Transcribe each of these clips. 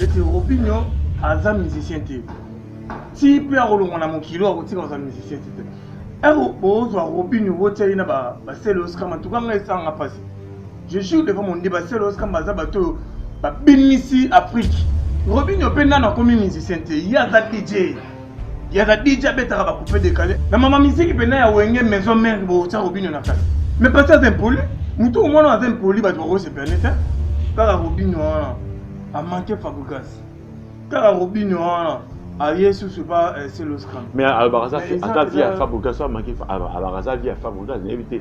ete robinho aza musicien te ti mpe akolongwa na mokili oyo akotika kozala musicien te te ero bozwa robinho botia ye na basele oskama tuka ngai esanga mpasi je jure devant mon dieu basele oskama baza bato oyo babimisi afrique robinho mpe nano akomi musicien te ye aza dj ya Khadija abetaka ba coupe décalé na mama miziki pena ya wenge maison mère botia robino na kati mais pasi aza impoli motu omona aza impoli bato bakosepela nete kaka robino wana amanke fabrigas kaka robino wana aye susu pa seloscram mais alobaka aza vie ya fabrigas amaki alobaka aza vie ya fabrigas nayebi te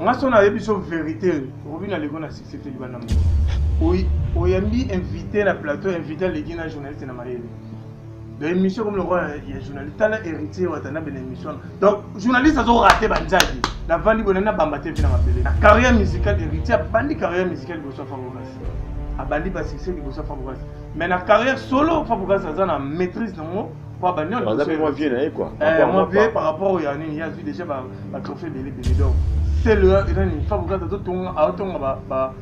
nga so nayebi biso verité obi na leko na succès te libanda mo oyambi invité na plateau invité aleki na journaliste na mayele na émission comme lokola ya journaliste tala héritier watana bena émission donc journaliste azorate banzaki navandi boye nana bamba te mpe na mabele na carrière musicale héritier abandi carrière musicale liboso ya fabogasi abandi basuccès liboso ya fabogasi mais na carrière solo fabogasi aza na maîtrise nango Kwa ba niongo. Baza mwa vieux na ye quoi. Eh, mwa vieux par rapport ya nini, ya vie déjà ba ba trophée belé belé donc. C'est le nani fa bukata to tonga a tonga ba ba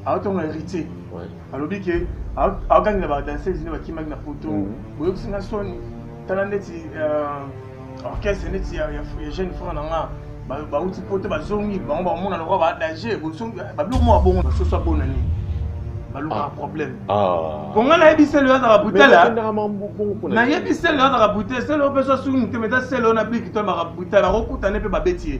a tonga héritier. Ouais. Alobi ke a gagné ba danseuse ne ba kimaki na poto. Mhm. Boyo kusinga soni. Tala ndeti euh orchestre ndeti ya ya jeune frère na nga. bauti poto bazongi bango bakomona lokola baadage bozongi babiloko moko abongo basusu abona nini balukaka ah. problème ah. po ngai nayebi selo azaka brutala nayebi selo azaka brutale selo oyo mpenso asuki motema eza selo na biki to baka brutale bakokutane mpe babeti ye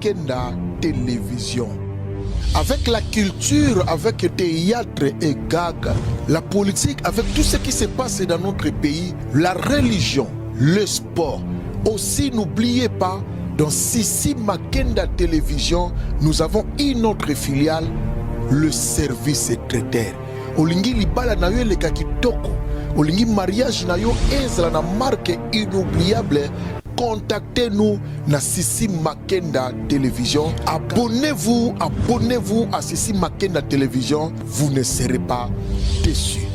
Kenda Television. Avec la culture, avec le théâtre et gag, la politique, avec tout ce qui se passe dans notre pays, la religion, le sport. Aussi, n'oubliez pas, dans Sissi Makenda Télévision, nous avons une autre filiale, le service traiteur. Olingi libala na yo toko. olingi mariage na yo ezala na marque inoubliable Contactez nous na Sissi Makenda Télévision. Abonnez-vous, abonnez-vous à Sissi Makenda Télévision. Vous ne serez pas déçus.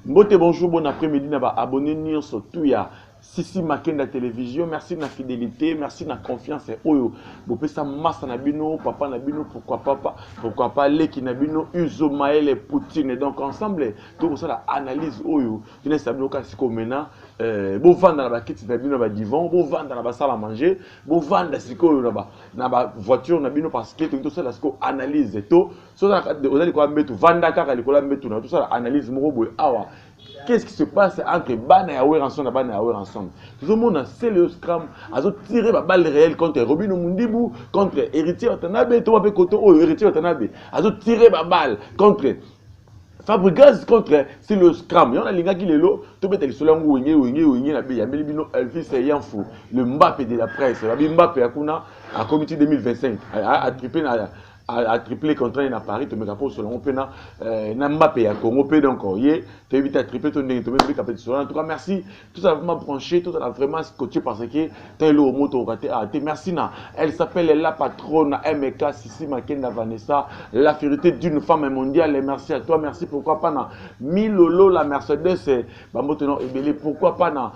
Mbote, bonjour, bon après-midi, na ba abonnés nyonso tout ya Sissi Makenda Télévision. Merci na fidélité, merci na confiance et oyo. Bopesa massa na bino, papa na bino, pourquoi papa, pourquoi pas leki na bino, Uzo Maele Poutine. Donc ensemble, tout ça la analyse oyo. Tina esa bino kasi ko mena eh, bovanda na bakiti na bino na badivon bovanda na basala manger bovanda sikoyo na ba na ba voiture na bino parce que toki tosala sikoyo analyse to so oza likolo ya mbetu vanda kaka likolo ya mbetu na tosala analyse moko boye awa qu'est-ce qui se passe entre bana ya weranson na bana ya weranson tozomona celeo scram azotire babale réel contre robino mundibu contre héritier watanabe to wape koto oyo héritier watanabe azotire babale contre Fabrigaz contre Silos Cram. Yon alingaki lelo tobeta lisolo yango wenge wenge wenge na beyambeli bino Elvis Yanfo le Mbappe de la presse. Babi Mbappe akuna a comité 2025 a, a triplé na a, a triplé contrat na Paris tomeka ko solo pe na euh, na Mbappe ya Congo pe donc ye toyebi ta triplé to ndenge tomeka pe solo en tout cas merci tozala vraiment branché tozala vraiment scotché parce que ta eloko moko tokoka te ah te merci na elle s'appelle la patronne na mk sisi makenda vanessa la fierté d'une femme mondiale merci à toi merci pourquoi pas na milolo la mercedes eh, bambote na ebele pourquoi pas na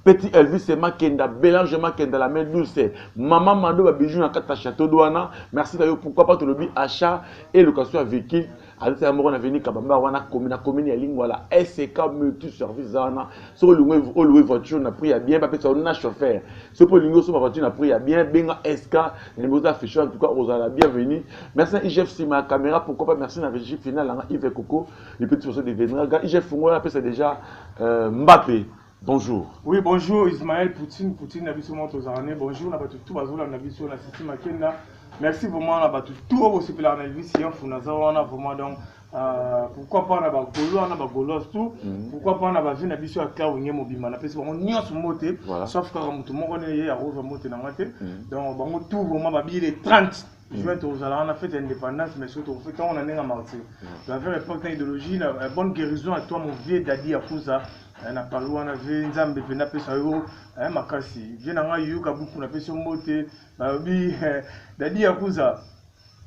petit elvis makenda belange makenda la main douce mama mado babiju na kati ya château douana merci na yo pourquoi pas tolobi achat et location ya véhicule azotala moko na veni kabamba wana komi na komini ya lingwala sk multi service wana soki olingi oluwe voiture na prix ya bien bapesa yo na chauffeur soki mpe olingi osomba voiture na prix ya bien benga sk na nimero za affiche en tout cas ozala bienvenu merci na igf nsima ya caméra pourquoi pas merci na régie finale yanga ive coco le petit poso devenra ga igf fungola apesa déjà euh, mbape Bonjour. Oui, bonjour Ismaël Poutine, Poutine na biso moto zarane. Bonjour na batu tout bazola na biso na Sisi Makenda. Merci vraiment na batu tout au sepela na Elvis Yanfu na zawana vraiment donc euh, pourquoi pas na ba golois na ba golois tout mm -hmm. pourquoi pas na ba vie na biso ya Clau nge mobimba na pesi bango nyonso mbote voilà. sauf kaka mutu moko ne ye akozwa mbote na nga te mm -hmm. donc bango tout vraiment ba bile 30 juin tozala wana fete ya indépendance mais surtout fete yango na ndenge ya martyr la vraie époque na idéologie na bonne guérison à toi mon vieux dadi ya fusa Eh, na pangi wana vie nzambe mpe napesa yo eh, makasi vie na ngai yoka buku napesi yo mbote balobi eh, dadi ya kuza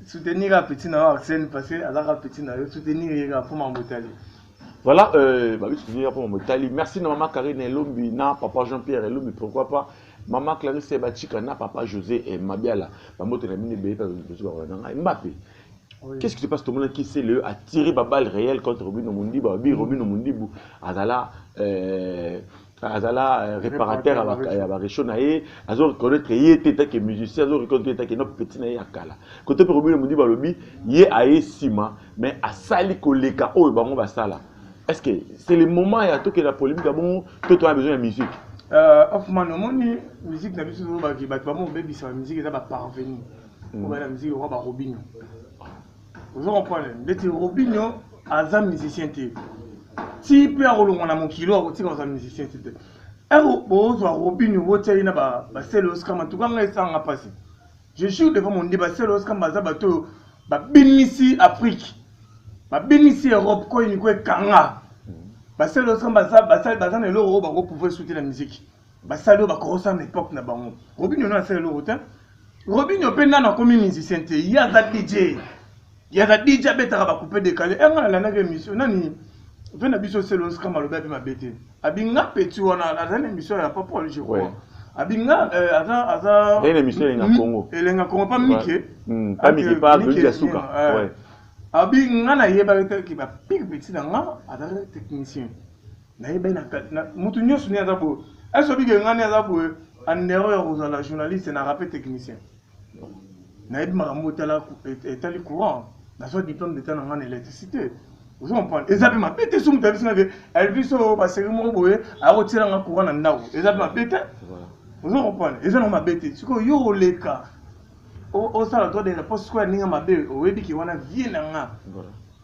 soutenir ya petit na yo arsène parce que azalaka petit na yo soutenir ye kaka mpo mambo etali Voilà, euh, bah oui, soutenir pour mon Italie. Merci na maman Karine Elombi, na papa Jean-Pierre Elombi, pourquoi pas. Maman Clarisse Ebachika, na papa José et Mabiala. Maman Telamine Bebe, parce que je suis Mbappé. Qu'est-ce qui se passe Tomona qui c'est le a tiré ba balle réelle contre Robino Mundibu, ba bi Robino Mundibu azala euh azala euh, réparateur ya ba réchaud na ye, azo reconnaître ye te ta que musicien, azo reconnaître ye ta que no petit na ye akala. Côté pour Robino Mundibu alobi ye aye sima mais asali koleka oyo bango basala. Est-ce que c'est le moment ya to que la polémique bon to to a besoin de musique Euh, Hoffman, omoni musique na biso ezolobaki bato bamo obebisa ba musique eza ba parvenu oyo na musique lokola ba Robinho ozo comprendre ndeti Robinho aza musicien te ti mpe akolongwa na mokili oyo akotika kozala musicien ti te ero bozwa Robinho botya ye na basele oskama tuka ngai esanga mpasi je jure devant mondi basele oskama baza bato oyo babinisi afrique babinisi europe koyini ko ekanga basele oskama baza na eloko oyo bakopouvoir soute na miziki basali oyo bakokosala na epoke na bango robinio no asala eloko te robinio mpe nano akomi musicien te ye aza dj ye aza dj abetaka bakupe dekale enga eh, nalandaki émission nani mpe na biso selonska malobi ape mabe te abinga peti wana aza na émission ya papa je crois abinga euh, aza aza émission elenga congo elenga congo pa mike hmm, pa mike pa beli ya suka euh, abinga nayebaki te ke bapiki peti na nga azalaki technicien nayebi na moto nyonso nde aza boye ese obike ngai nde aza boye andero ya kozala journaliste na rape technicien nayebi makambo etali courant nazwa diplôme d'état na ngai na électricité ozo comprendre eza mpe mabe te soki moto ayebisi ngai ke elvis oyo baseri moko boye akotiela ngai courant na ndako eza mpe mabe te ozo comprendre eza nango mabe te sikoyo yo oleka osala droit de réponse sikoyo ya ndenge mabe oyebi ke wana vie na ngai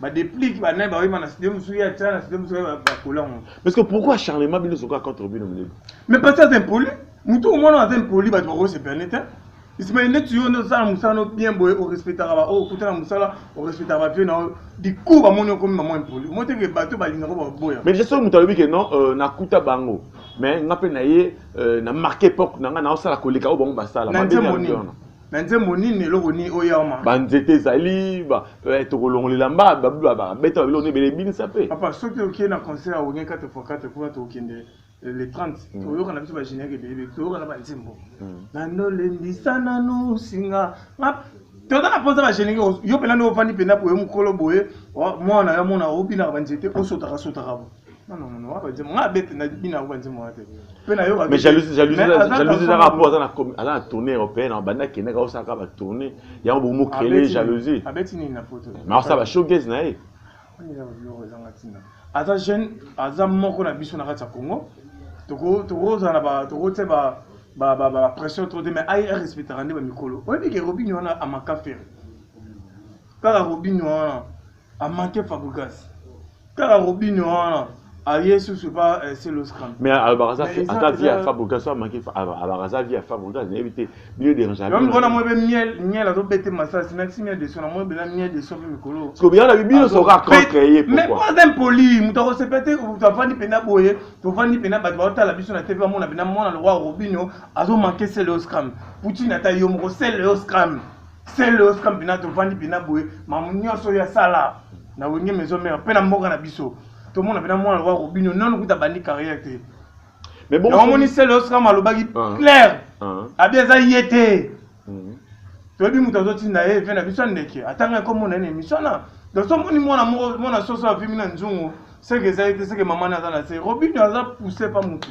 ba déplique ba naye bayema na studio mosusu ye atya na studio mosusu bakola ngo parce que pourquoi acharnement bino ezoka contre bino milele mais parce que aza impoli motu omona aza impoli bato bakosepelane te ismael neti yo nde osala mosala no bien boye orespectaka baoyo okuta na mosala orespectaka bavie na oyo dikour bamoni okomi mama impoli omoteke bato balingaka baboya mais soki moto alobi ke non euh, nakuta bango mais nga mpe na ye euh, na marke epoque na nga naosala koleka oyo bango basala na nzembo nini na nzembo nini eloko nini oyo yaoma banzete ezali eh, tokolongolela mba babeta babiloko ebele ebinisa mpe papa soki okie na concert ya wenge 4 fois 4 kuna tokokende eh, le 30 mm. toyoka na biso bagénérique ebele toyoka na banzembo mm. nano lembisa nano singa toza na mposa bagénérique yo mpena nde ofandi mpena boye mokolo boye mwana ya mona obinaka banzete osotakasotaka bo Non, non, non, wapa nzembo. Nga bete na bina wapa nzembo wana te. Pe na yoka. Mais jalousie, jalousie, jalousie za rapport za na ala na tournée européenne, en banda kenda ka osaka ba tournée. Ya bo mo créer jalousie. Abeti ni na photo. Mais ça va showcase na ye. Ni na yo za ngatina. Aza jeune, aza moko na biso na kati ya Congo. Toko toko za na ba toko tse ba ba ba ba pression trop de mais ayi respectera nde ba mikolo. Oyebi ke Robinho wana amaka ferre. Kaka Robinho wana Amante Fabregas. Kaka Robinho wana aye susu pa eh, Celoscram. Mais alobaka euh, ata vie ya Fabregas amaki alobaka aza vie ya Fabregas nayebi te bino dérange. Yo mona moi be miel miel azo bete masasi na miel de sona moi bela miel de sope mikolo. Parce que bien la bino soka contre ye pourquoi? Mais pas impoli, mutu ko se pete ou tu avandi pena boye, tu avandi pena ba ba tala biso na TV amona bena mona le roi Robinho azo manquer Celoscram. Poutine ata yo moko Celoscram. sele osika mpina tovandi mpina boye mamu nyonso oyo asala na wenge maison mère mpe na mboka na biso tomona mpena mwana lokola robinio nano kuta bandi carrière te omoni sele osika malobaki ah. claire ah. abi eza ye te mm. toyebi moto azotinda ye ve na biso ya ndeke atanga ekomona ye na émission wana donc tomoni mwana mwana soso avimi na nzungu seke eza ye te seke mama ne aza na se robinio aza pousse pa motu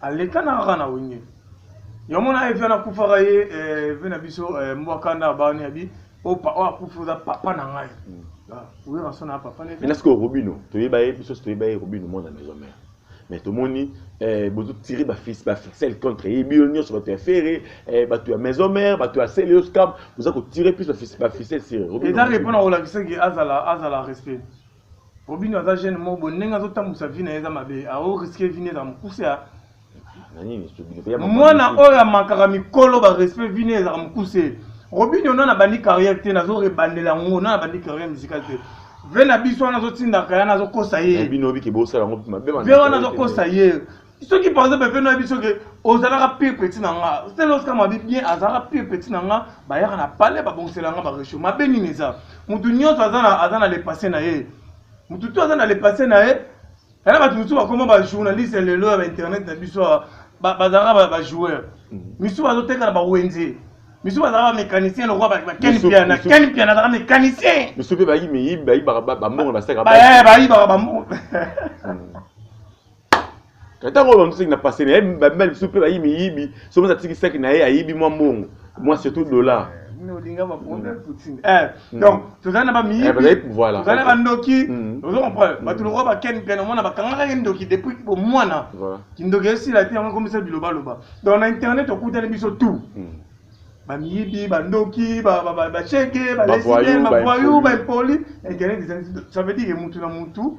Aleka na kaka na wenge. Yo mona evi na kufaka ye eh, evi na biso eh, mbwa kanda abani abi opa oh, oyo oh, akufi oza papa na ngai. Mm. Ah, oyo na sona papa ne. Mais nasko Robino, toyeba ye biso toyeba ye Robino mwana maison mère. mais tomoni eh, bozotire baficelle contre ye bino nyonso bato ya fere eh, bato ya maison mare bato ya celios cam boza kotire plus baficelle sire eza repona kolakisaki azala azala respect Robinho aza jeune moko boye ndenge azotambusa vie na ye eza mabe ao riske vie ne eza mokuse ya mwana oyo amakaka mikolo barespect vie ne ezaka mokuse robinho nana abandi carrière te nazo rebandela yango nana abandi carrière musicale te ve na biso wana azotindaka yana azokosa ye ve wana azokosa ye soki par exemple mpe nayebi soki ozalaka pire petit na nga seloska mabi bien azalaka pire petit na nga bayaka na palais babongisela nga baresho mabe nini eza motu nyonso aza na lepasse na ye motu to aza na lepasse na ye yana bato mosusu bakoma bajournaliste ya lelo ya bainternet na biso bazalaka bajoueur mm. misusu bazoteka na bawenze misusu bazalaka bamécanicien lokola baken piana ken piana azalaka mécanicien misusu mpe bayibaka bambongo na basaka bayibaka bambongo ntango oyo bamseki na pase na ye babima lisusu mpe bayi miyibi so mosi atiki saki na ye ayibi mwa mbongo mwa surtout dollar olinga bakonde mm. poutine eh, mm. donc tozali na bamiyibi eh, tozali na bandoki mm. ozo comprendre bato lokola baken mpe namona bakangaka ye ndoki depuis bomwana kindoki esila te yango ekomisa bilobaloba donc na internet okutani biso tout bamiyibi bandoki bacheke balesibien bavoyou baimpoli internet ça veut dire mutu na mutu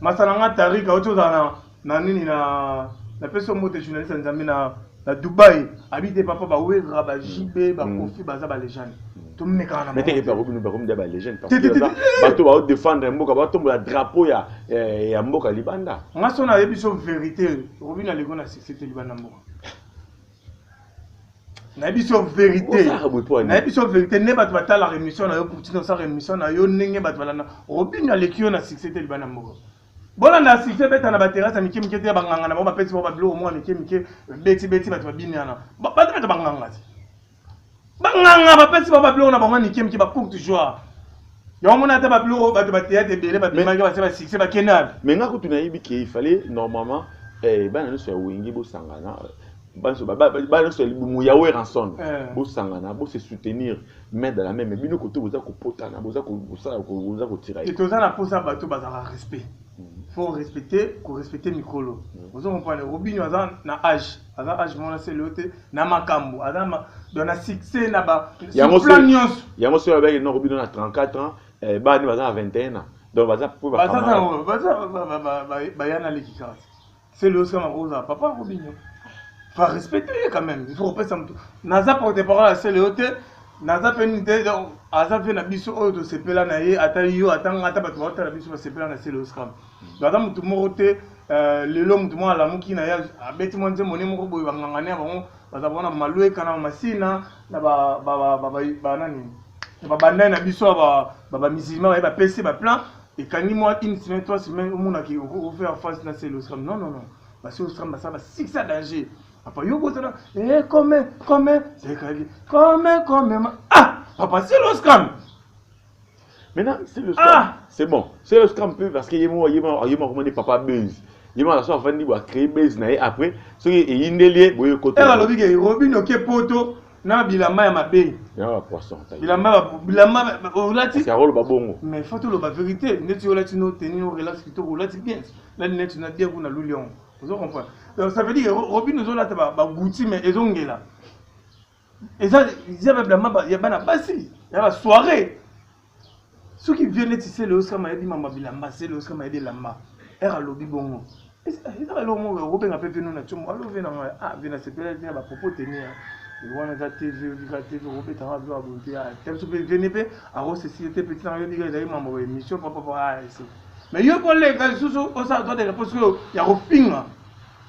Masana nga tarika oti ozala na na nini na na peso mbote journaliste nzambe na na Dubaï abite papa ba wera ba JB ba mm. Kofi baza ba legende mm. tomeka na mais teke pa kobino ba komida ba legende parce que bato ba défendre mboka ba tombola drapeau ya eh, ya mboka libanda nga sona yebiso vérité robina lego na succès te libanda mboka nayebi biso verité nayebi biso verité nde bato batalaka émission na yo poutine osaka émission na yo ndenge bato balanda obino aleki yo na succès te libanda moko bolanda succès beta na baterase ya mike mike te ya banganga na bango bapesi bango babiloko moko ya mike mike betibeti bato babini wana bato bato banganga te banganga bapesi bango babiloko na bango ya mike mike bacourte joie yango mona ata babiloko bato bateyate ebele babimaki base basuccès bakende wapi me nga kutu nayebi ke ifale normalement eh, bana nyonso ya wenge bosangana bana nyonso ya libumu ya weranson eh. bosangana bose soutenir main de la main me bino kote boza kopotana boza kosala boza kotira toza na mposa bato bazalaka respect faut respecter korespecte mikolo ozo comprendre robinio aza na age aza age mwana se leo te na makambo aza ma, na succès na ba yango plan nyonso yango soki abaki noko bino na 34 ans eh, bani baza na 21 ans donc baza po baza baza baya na leki kaka se leo sika makozala papa akobinyo fa respecter ye quand même il faut kopesa moto naza porte parole ya se leo te naza mpe nini te aza mpe na biso oyo tosepela na ye ata yo ata nga ata bato baotala biso basepela na se leo sika aza motu moko te eh, lelo motu moko alamuki na ye abeti mwa nzembo ne moko boye bangangani ya bango baza bona malueka na masina na banani na babandani na biso bamisilima baye bapesi baplan ekangi mwa une semaine trois semaine omonaki ofaire face na selo osram non non non basi osram basala basiksi ya danger papa yo bozala e kome kome sekali kome kome ah papa selo osram Maintenant, c'est le ah! C'est bon. C'est le scam peu parce que yemo yemo yemo comment dit papa buzz. Yemo la soif vandi boa créer buzz na après ce qui est indelié boye côté. Era lobi ke Robin oke poto na bilamba ya mabe. Ya ba poisson. Bilamba bilamba olati. C'est rôle babongo. Mais faut tout le ba vérité. Neti olati no tenir au relax kito olati bien. La neti na dia kuna lulion. Vous comprenez? Donc ça veut dire Robin nous olata ba ba gouti mais ezongela. eza eza ba blama ya bana basi ya ba soirée soki vieux neti sele osika mayebi mama bilamba sele osika mayebi elamba ere alobi bongo eza eloko moko okobenga mpe vino na tiomo alo vina ngai ah vina sepela vina bapropo teni ya wana eza te vio lika te vio obeta ngai vio aboyi te te biso mpe vene mpe akosesi ye te peti nanga yo lika ezali mambo ya émission papapa ah ese mais yo koleka lisusu osala droit de réponse oyo ya kofinga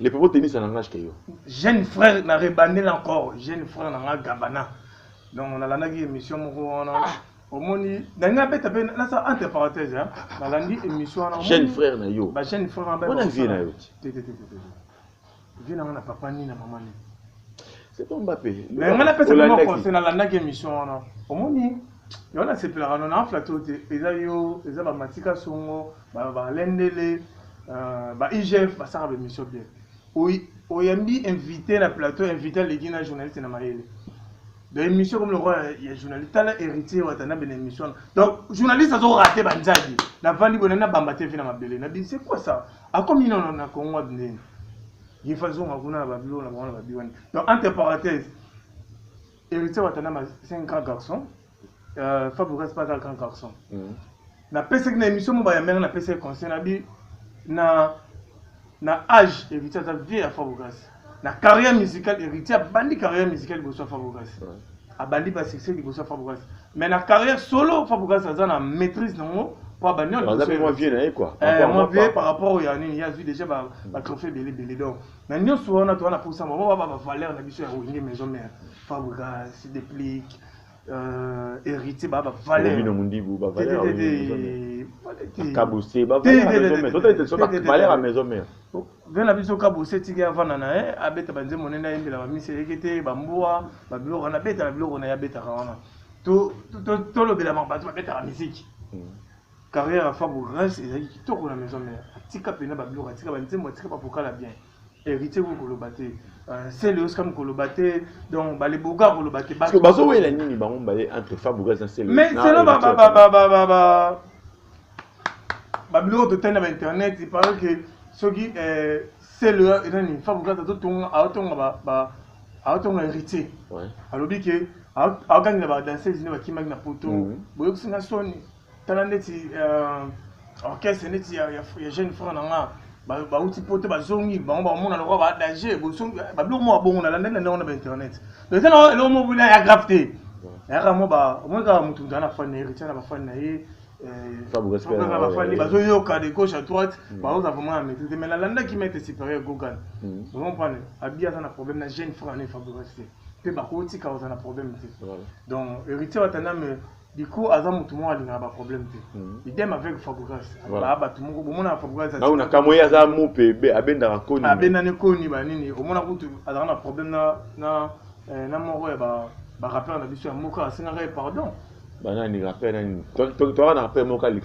Le propos tennis en langage que yo. Jeune frère na rebandel encore, jeune frère na nga Gabana. Donc on a landaki émission moko wana. Ah. omoni ndenge abeta mpe nasa entre parenthèse nalandi émission wana jeune frère na yo ba jeune frère na yo vie na nga na papa nini na mama nini c'est pas mbappe mais nga napesa bino conseil nalandaki émission wana omoni yango nasepelaka no na flato te eza yo eza bamatika songo balendele euh, ba igf basaka bemission bien oyambi invité na plateau invité aleki na journaliste na mayele donc émission comme lokola ya journaliste tala héritier watana bena émission donc journaliste azorate banzadi navandi boye nabamba te vi na mabele na bini c'est quoi ça Akomi na na Congo abinene. Yefa zonga kuna na babilo na bango na babilo wana. Donc entre parenthèses, héritier Watanama c'est un grand garçon. Euh, Fabio Gas pas un grand garçon. Mm -hmm. Na pesa na émission moba ya mère na pesa conseil na bi na na âge héritier aza vieux ya Fabio Gas. na carrière musicale héritier abandi carrière musicale liboso ya fabrogasi abandi ba succès liboso ya fabrogasi mais na carrière solo fabrogasi aza na maîtrise nango po abandi mwa vie na ye quoi eh, mwa vie par rapport oyo ya nini ye azwi déjà batrophée ebele ebele donc na nyonso wana toza na posa mwa baba bavaleur na biso ya wenge maison mère fabrogasi déplique euh, héritier baba valeur bino mundibu ba valeur kabuse ba valeur à maison mère Vieux na biso kabose tiki avanda na ye abeta banzembo monene ayembela bamisi eyeke te bambua babiloko wana abeta na biloko na ye abetaka wana tolobelama bato babetaka miziki hmm. carrière ya fabu grace ezalaki kitoko na maison mère atika mpena babiloko atika banzembo atika bavokala bien héritier ko koloba te euh, sele osika mokoloba te donc baleboga koloba te bazowela nini bango mbaye entre fabu grace na sele mais selo babiloko totali na bainternet parce que soki eh, selo enani fabukata azotonga aotonga aotonga héritier alobi ke aogangela badanseuse nde bakimaki na poto mhm. boyokisi nga soni tala ndeti euh, orchestre ndeti ya jeune frère na nga bauti poto bazongi bango bakomona lokola baadage babiloko moko babongo nalandaki na ndenge wana bainternet eza na eloko moko ya grave te yaka mo ba omoni kaka motu motu ana fani na ye ritia na bafani na ye kaka bafani bazoyoka de gauche à droite baoza vraiment ya maîtrise mais nalandaki maître supérieur gogan okomprendre abi aza na problème na jeune frère na ye fabrigas te mpe bakotika kozala na problème te donc héritier watandame Diko aza mutu moko alingaka ba problème te. Hmm. Idem avec Fabregas. Ba batu moko bomona na Fabregas aza. Naona kamwe aza mupe be abendaka koni. Abenda ne koni ba nini omona kutu aza na problème na na eh, na moko ya ba ba rappeur na biso ya mboka asengaka ye pardon. Ba nani rappeur nani? Toi toi toi na rappeur moko Alex.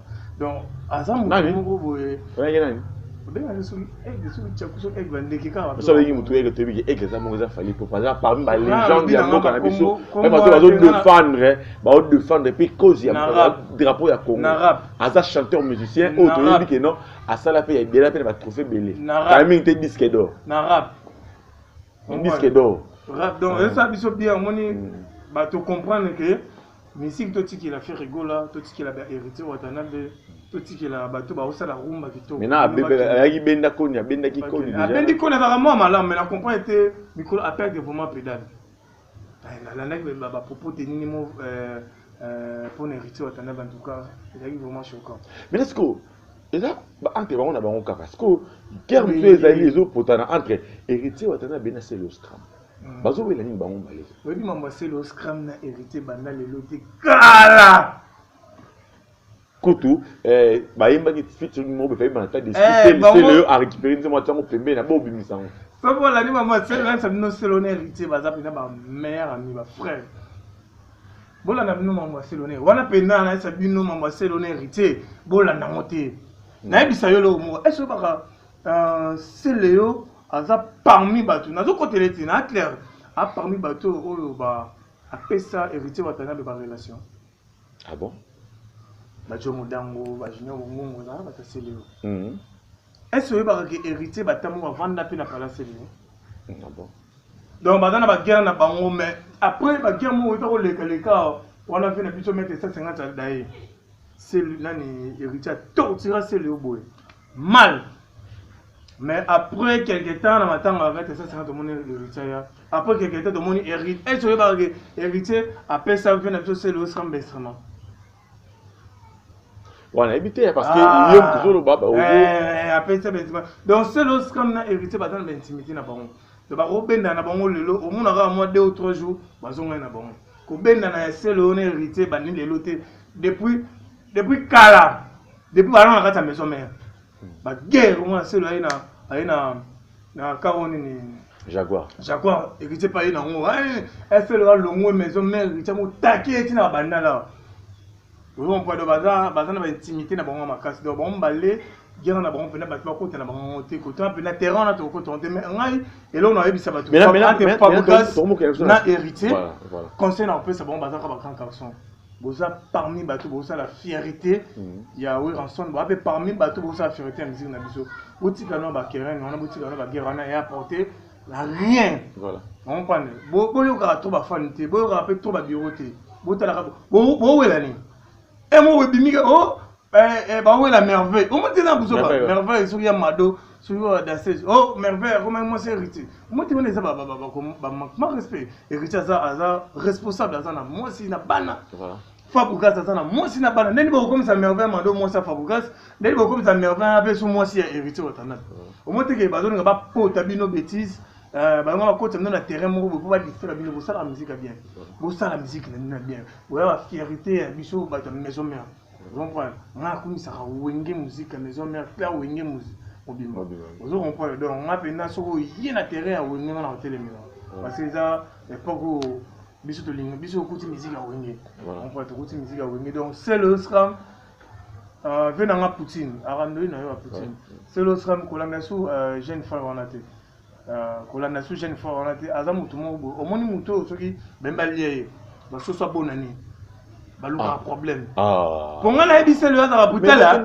donc aza moto moko boye oyaki nani obengaki soki aigle soki tyaku soki aigle bandeke kaka so obengi motu aigle toyebi ke aigle eza moko eza fali po aza parmi ba legende ya mboka na biso meme bato bazo defendre bao defendre mpe cause ya drapeau ya congo aza chanteur musicien oyo toyebi ke non asala mpe ya ebela mpe na batrophe ebele kala mingi te disque d'or disque d'or donc eza biso bien omoni bato comprendre ke musique totikela ferre gola totikela ba héritier watanabe totikela bato baosala rumba kitoko maintenant abebela ayaki benda koni abendaki koni déjà abendi koni azalaka mwa malamu mais na comprendre te mikolo aperde vraiment pedale eh, nalandaki ba propos te nini mo euh, euh, mpo na héritier watanabe en tout cas ezalaki vraiment choquant mais est-ce que eza entre bango na bango kaka sikoyo guerre mosusu ezali ezopotana entre héritier watanabe na celoscram hmm. bazowela nini bango maleka oyebi mambo ya selo scram na hérité banda lelo te kala kutu eh, bayembaki featuring moko befai bana ta deseleyo eh, arécupere nzembo ati yango pembeni na bobimisa yango soki olandi bango aselasa bino selo na héritier baza mpenza bamare ami bafrère bolanda bino mambo ya selo na wana mpenza nayesa bino mambo ya selo na héritier bolanda yango te nayebisa yo eloko moko ese obaka Uh, Celeo aza parmi bato nazokotela ete na clair a parmi bato oyo ba apesa héritier watanabe ba relation ah bon bajo modango bajunior bongongo na bata Celeo mm -hmm. est-ce oyebaka ke héritier batambo bavanda mpe na pala Celeo mm, ah bon donc baza na baguerre na bango mais après baguerre moko oyeba koleka leka wana mpe na biso mete 150 aldaye nani héritier atortira Celeo boye mal mais après quelque temps na matanga ya 2550 tomoni héritier ya après quelque temps tomoni héritier est ce oyebaka ke héritier apesa vie na biso selo osamba instrument wana yebi te parce que ah. ye moto ozoloba eh, apesa baintima donc selo osamba na héritier baza na baintimité na bango donc bakobenda na bango lelo omonaka mwa deux ou trois jours bazongai na bango kobenda na ya selo na héritier bani lelo te depuis depuis kala depuis balanga na kati ya maison mère baguerre omona nselo aye na aye na na karo nini jaguar jaguar héritier mpe aye na yango felo alongwe maison mère héritier yango taki eti na bandala ozompado baza baza na baintimité na bango ya makasi donc bango mbale gera na bango mpena bato bakota na bango te kotuna mpena terrain wana tokokotana te mais ngai eloko nayebisa bato ate fabugas na héritier conseil na kopesa bango bazaka ba grand carson boza parmi bato bosala fierité mm. ya weranson boza mpe parmi bato bosala fierité ya miziki na biso botika no bakerene wana botika no bagere wana ya apporte na rien ompane boyokaka to bafani te boyokaka mpe to babiro te botalaka bowela nini emo eh, ebimika o oh, Eh, eh, bawela merveille omoteli na buzoba merveille soki ya mado soki ya dasese o oh, merveille akomaki mwasi héritier omoteli wana eza bamanque respect héritier aza aza responsable aza na mwasi na bana fabugas aza na mwasi na bana ndeni bakokomisa merveille mado mwasi ya fabugas ndeni bakokomisa merveille ape so mwasi ya héritier watandana omoteke bazolinga bapota bino bétise Euh, bango bakota bino na terrain moko boye mpo badistraire bino bosala musike ya bien bosala musike na bino ya bien boya bafierité ya biso bato ya maison mère comprendre nga akumisaka wenge muzika maison mère cla wenge mobimba ozo comprendre donc nga mpenza soki oye na terrain ya wenge nga na kotelemela parce que eza epoque oyo biso tolingi biso okuti miziki ya wenge comprendre tokuti miziki ya wenge donc sel osram euh, ve na nga poutine arandoyi na yo ya poutine sel osram kolanda su euh, jeune femme wana te Euh, kolanda su jeune fort wana te aza motu moko boye omoni motu oyo soki bemi balia ye basusu abona nini balukaka ah. problème ah. po ngai nayebi sele oyo azaka butala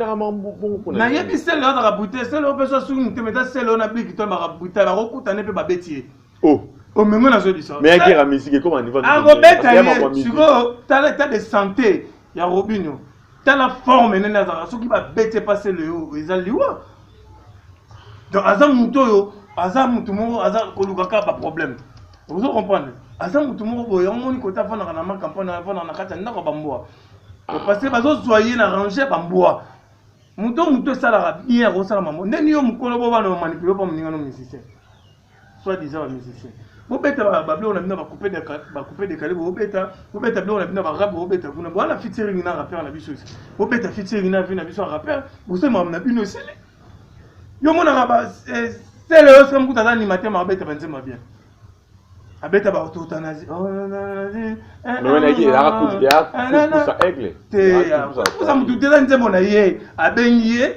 nayebi sele oyo azaka butala sele oyo mpe so asuki motema eza sele oyo na bliki to baka butala bakokutana mpe babeti ye oh. omengo nazo biso akobeta ye sikoyo tala etat de santé ya robinio tala forme nene azalaka soki babete pase leo eza liwa donc aza moto oyo aza moto moko aza koluka kaka baproblème ozo comprendre aza moto moko boye yango moni kota afandaka na makampani afandaka na kati ya ndako ya bambwa parce bazozwa ye na range ya bambwa moto moto esalaka bien akosala mambo ndeni yo mokolo bo bana bamanipule mpo moninga no musicien soit disant ba musicien bobeta babiloko na bino bakupe dekale bobeta bobeta biloko na bino barabe bobeta kuna bowana fitiringi na rappeur na biso esi bobeta fitiringi na vie na biso ya rappeur bosali makambo na bino esili yo monaka eh, sele yo soki mokuta aza animateur ma abeta banzemba bien abeta baototanazi te motu te eza nzembo na ye abengi ye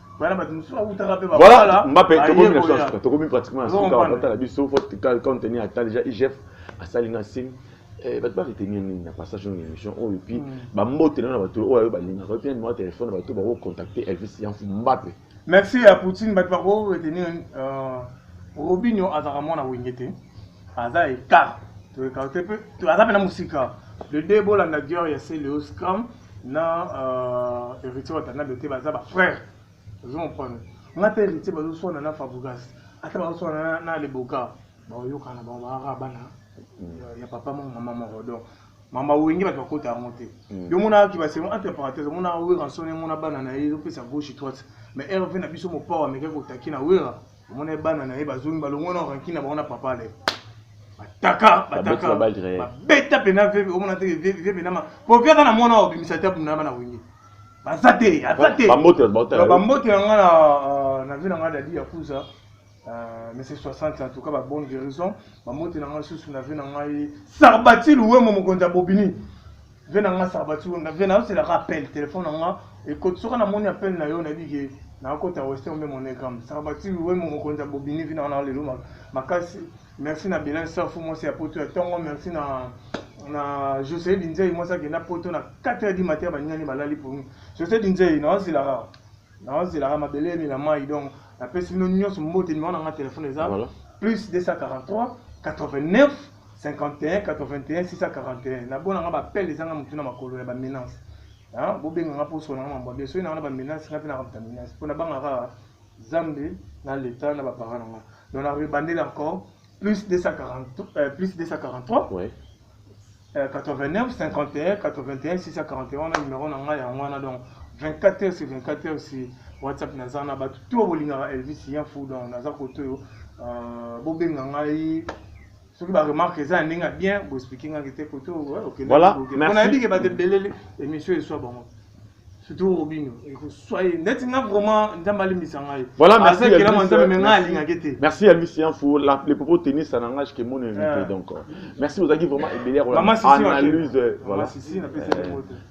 Voilà, Mbappé, tokomi pratiquement à son cas, on a biso, faut quand on est à temps déjà IGF, à Salina Sim, eh, bato baretenir nini na passage na émission oyo epuis hmm. bambotela na bato oyo ayo balingaka epuis numero ya telefone bato bakocontacte elvis yanfu mbape merci ya poutine bato bakoretenir euh, robinio azalaka mwana wenge te aza ekart toekarte mpe aza mpe na mosika le de bolanda dior ya celeo scram na euh, héritier watanabe te baza bafrère ozo comprendre nga mpe héritier bazoswana na fabugas ata bazoswana na leboka baoyokana bango baaka bana mm. ya papa moko mama moko donc mama wenge bato bakota yango te mm. yo omonaki basemo entre parenthèse omona wera nsoni omona bana na ye ezopesa gauche droite mais rv na biso mopao amekaki kotaki na wera omona ye bana na ye bazongi balongwa na ranki na bango na papa ale bataka bataka babeta mpena veve omona te veve mpena ma po veve aza na mwana obimisa te abunda bana wenge baza te aza te bambote na nga euh, na vie na nga dadi ya kuza Euh, mais c'est 60 en tout cas babonne guérison bambote na ngai susu na vie na ngai sarbati luwemo mokonzi ya bobini ve na nga sabati wemba ve nayoselaka appel telefone na nga ekoti soki namoni appel na yo nayebi ke nakota western mbe monegram sabati wemba mokonzi ya bobini vina wana lelo makasi merci na bilan safu mwasi ya poto ya ntongo merci na na josele dinzei mwasi akenda poto na 4 heure di matin baningani balali pongi josele dinzei naosilaka naozelaka mabele emela mai donc napesi bino nyonso mbote nimero na nga telefone eza Voilà. plus 243 89 51 81 641 nabona nga bapele ezanga motu na makolo ya bamenance bobenga nga mposo na nga mambo bien soki nanga na bamenance nga mpe nakamta menance mpo nabanga kaka zambe na leta na baparent na nga donc na rebandele encore plus 243 euh, plus 243 ouais. 89 51 81 641 wana numero na ngai yango wana donc 24 heures sur 24 heures sur whatsapp naza na bato to bolingaka elvis ya fou donc naza koto oyo euh, bobenga ngai soki baremarke eza ya ndenge ya bien boexplike ngaki te koto okendepona yebi ke bato ebelele émission eswa bango surtout robino ekoswa ye neti nga vraiment nzambe alimbisa ngai voilà merci azelama nzambe me ngai alingaki te merci ya misi ya fo le propos tennis na ngai ke mon invité donc merci ozalaki vraiment ebele akola analyse voilà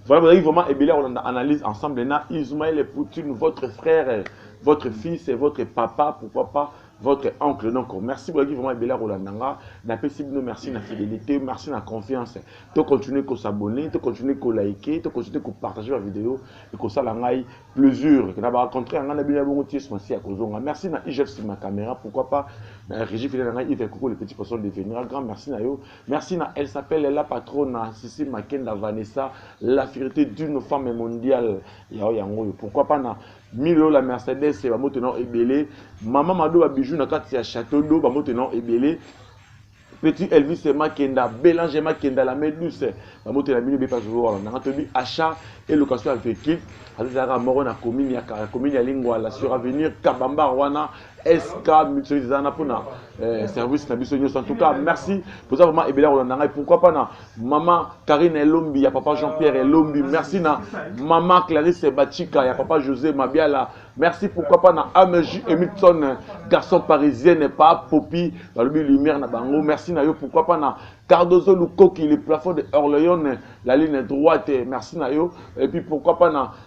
voilà ozalaki vraiment ebele akola analyse ensemble na ismaël poutine votre frère votre fils et votre papa pourquoi pas votre oncle donc merci boyaki vraiment ebele ya kolanda nga napesi bino merci na fidélité merci na confiance to continuer kosabonne to continuer kolike to continuer kopartage bavideo ekosala ngai plaisir na bacontre ya ngai na bino ya bongo ties masi ya kozonga merci na igfc ma caméra pourquoi pas na régie fidèle na ngai ive koko le petit poisson devenira grand merci na yo merci na elle s'appelle la patrona sisi makenda vanessa la fierté d'une femme mondiale yao yango oyo pourquoi pas na 1000 euros la Mercedes ba moto na ebele maman mado ba bijoux na kati ya château d'eau ba moto na ebele petit Elvis Makenda Bélange Makenda la main douce ba moto na bino be pas voir na to bi achat et location avec qui azalaka moko na commune ya commune ya Lingwa la sur avenir Kabamba wana SK Mutualite eza wana mpona eh, service na biso nyonso en tout cas merci toza vraiment ebele ya kolanda ngai pourquoi pas na mama Karine Elombi ya papa Jean-Pierre Elombi merci na mama Clarisse Bachika ya papa José Mabiala merci pourquoi pas na AMJ Emilson garçon parisienne pa Popi balobi lumière na bango merci na yo pourquoi pas na Cardozo Lukoki le plafond de Orléans la ligne droite merci na yo et puis pourquoi pas na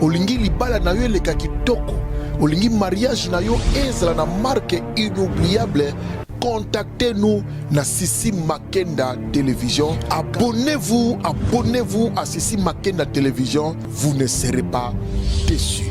Olingi libala na yo eleka kitoko, olingi mariage na yo ezala na marque inoubliable contactez-nous na Sissi Makenda Télévision. Abonnez-vous, abonnez-vous à Sissi Makenda Télévision. Vous ne serez pas déçus.